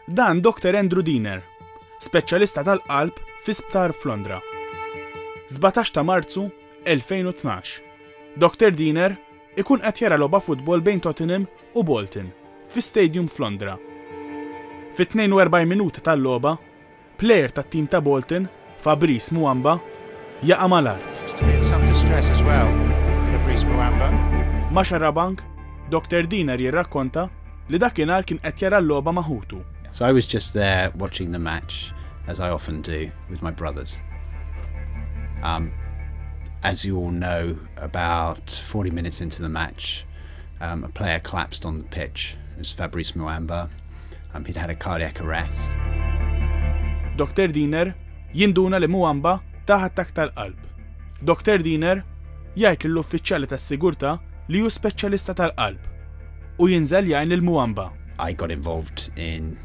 Dan Dr Andrew Diener, speċjalista tal-qalb fi sptar f'Londra. 17 ta' Marzu 2012. Dr Diener ikun qed jara logħba futbol bejn Tottenham u Bolton fi stadium f'Londra. Fit-42 minuta tal-logħba, Plejer tat-tim ta' Bolton, Fabrice Muamba, jaqa' mal-art. Ma' Xarabank, Dr Diener jirrakkonta li dakinhar kien qed jara l-logħba ma' ħutu. So I was just there watching the match as I often do with my brothers. Um as you all know about 40 minutes into the match um a player collapsed on the pitch, it was Fabrice Muamba. Um, he'd had a cardiac arrest. Dr. Diener jinduna li Muamba taħ attak tal-qalb. Dr. Diener jgħid lill-uffiċjali tas-sigurtà li hu speċjalista tal-qalb u jinżel jgħin lil Muamba. I got involved in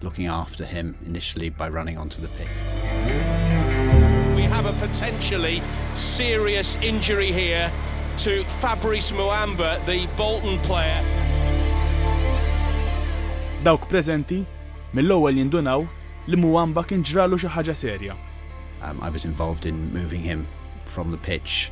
looking after him initially by running onto the We have a potentially serious injury here to Fabrice Muamba, the Bolton player. Dawk preżenti mill-ewwel jindunaw li Muamba kien ġralu xi ħaġa serja. I was involved in moving him from the pitch.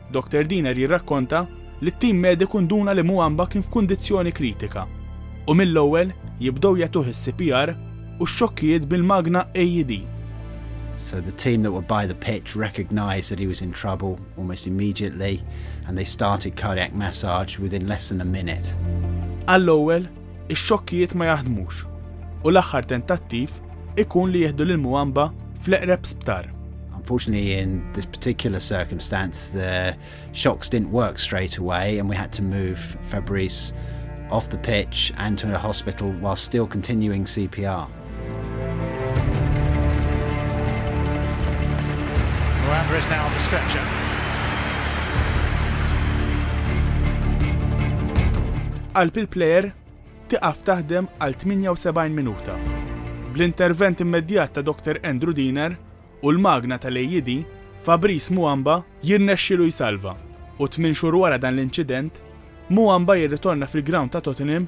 Doktor Diener jirrakkonta li t-tim mediku nduna li Mouamba kien f'kundizzjoni kritika u mill-ewwel jibdew jagħtuh is-CPR u x-xokkijiet bil-magna AED. So the team that were by the pitch recognised that he was in trouble almost immediately and they started cardiac massage within less than a minute. Għall-ewwel, Ix-xokkijiet ma jaħdmux u l-aħħar tentattiv ikun li jieħdu lil Mwamba fl-eqreb sptar. Unfortunately, in this particular circumstance, the shocks didn't work straight away, and we had to move Fabrice off the pitch and to a hospital while still continuing CPR. Muamber is now on the stretcher. Qalb il-plejer tiqaf taħdem għal 78 minuta. Bl-intervent immedjat ta' Dr. Andrew Diner u l-magna tal-AED, Fabrice Muamba jirnexxilu jsalva u tmin xhur wara dan l-inċident, Muamba jirritorna fil-ground ta' Tottenham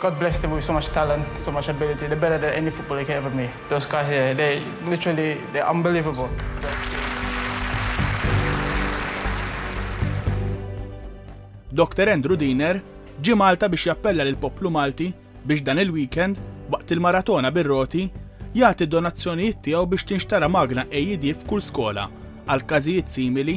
God bless Tibu so much talent so much ability the better than any footballer you can ever me those guys here they literally they unbelievable. Doctor Andrew Diener ġie Malta biex jappella lill-poplu Malti biex dan il-weekend, waqt il-maratona bir-roti, jagħti donazzjonijiet tiegħu biex tinxtara magna AED f'kull skola għal każijiet simili